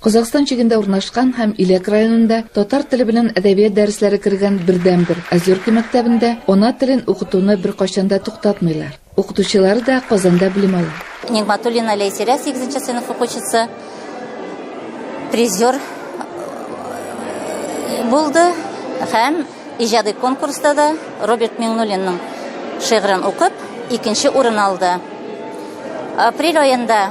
Казахстан чигендә урнашкан һәм Иләк районында татар теле белән әдәбият дәресләре кергән бердәнбер Озерки мәктәбендә ана телен укытуны беркайчан да туктатмыйлар. Укытучылары да Казанда белем ала. Нигматуллина Ләйсирә 8 сыйныф укучысы призер э, булды һәм Иҗади конкурста да Роберт Миңнуллинның шигырен укып, икенче урын алды. Апрель аенда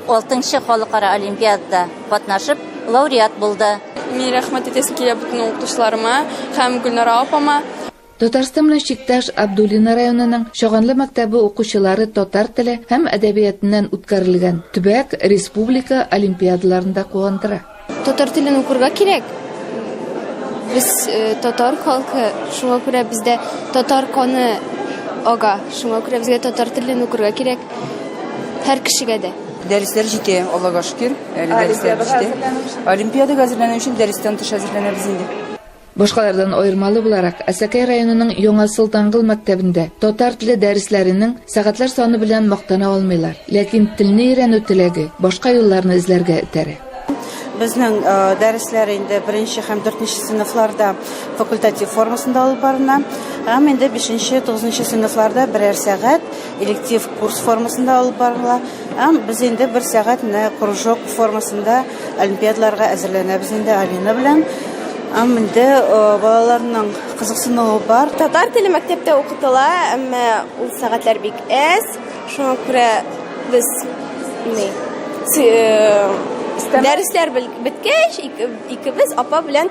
6-нчы халыкара олимпиадада катнашып, лауреат булды. Мин рәхмәт итәсе килә бүтән укытучыларыма һәм Гөлнара апама. Татарстан белән чиктәш Абдулино районының Чаганлы мәктәбе укучылары татар теле һәм әдәбиятыннан үткәрелгән төбәк, республика олимпиадаларында куандыра. Татар телен укырга кирәк. Без э, татар халкы, шуңа күрә бездә татар каны ага. Шуңа күрә безгә татар телен укырга кирәк. Һәр кешегә дә. Дәресләр җитә, Аллага шөкер. Әле дәресләр җитә. Олимпиадага әзерләнү өчен дәрестән тыш әзерләнәбез инде. Башкалардан аермалы буларак, Әсәкәй районының Яңа Солтангыл мәктәбендә татар теле дәресләренең сәгатьләр саны белән мактана алмыйлар, ләкин телне өйрәнү теләге башка юлларны эзләргә этәрә. Безнең э, дәресләр инде беренче һәм дүртенче сыйныфларда факультатив формасында алып барына, һәм инде бишенче, тугызынчы сыйныфларда берәр сәгать электив курс формасында алып барыла. Һәм без инде бер сәгатьне кружок формасында Олимпиадаларга әзерләнәбез инде Алина белән. Ам инде балаларның кызыксынуы бар. Татар теле мәктәптә укытыла, әмма ул сәгатьләр бик әз. Шуңа күрә без ни дәресләр беткәч, икебез апа белән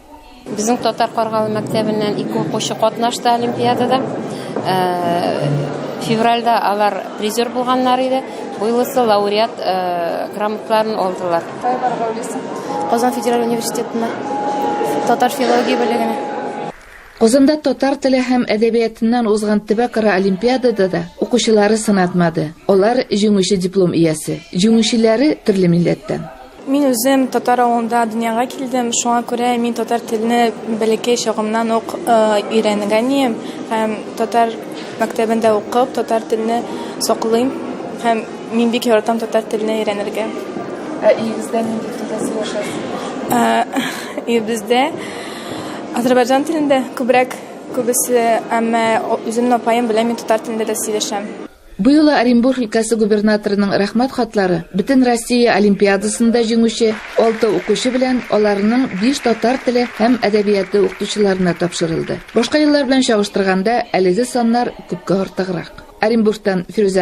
Безнең Татар Каргалы мәктәбеннән ике укучы катнашты олимпиадада. Февральдә алар призер булганнар иде. Быелысы лауреат грамоталарын алдылар. Казан федераль университетына татар филология бүлегенә. Казанда татар теле һәм әдәбиятыннан узган төбәкара олимпиадада да укучылары сынатмады. Алар җиңүче диплом иясе. Җиңүчеләре төрле милләттән. Мин үзем татар авылында дөньяга килдем, шуңа күрә мин татар телне бәләкәй чагымнан ук өйрәнгән ием һәм татар мәктәбендә укып, татар телне саклыйм һәм мин бик яратам татар телне өйрәнергә. Ә өегездә нинди телдә сөйләшәсез? Өебездә Азербайджан телендә күбрәк күбесе, әмма үземнең апаем белән мин татар телендә дә сөйләшәм. Бу юлы Оренбург өлкәсе губернаторының Рәхмәт хатлары Бөтенроссия олимпиадасында җиңүче алты укучы белән аларның биш татар теле һәм әдәбияты укытучыларына тапшырылды. Башка еллар белән чагыштырганда, әлеге саннар күпкә артыграк. Оренбургтан Фирүзә.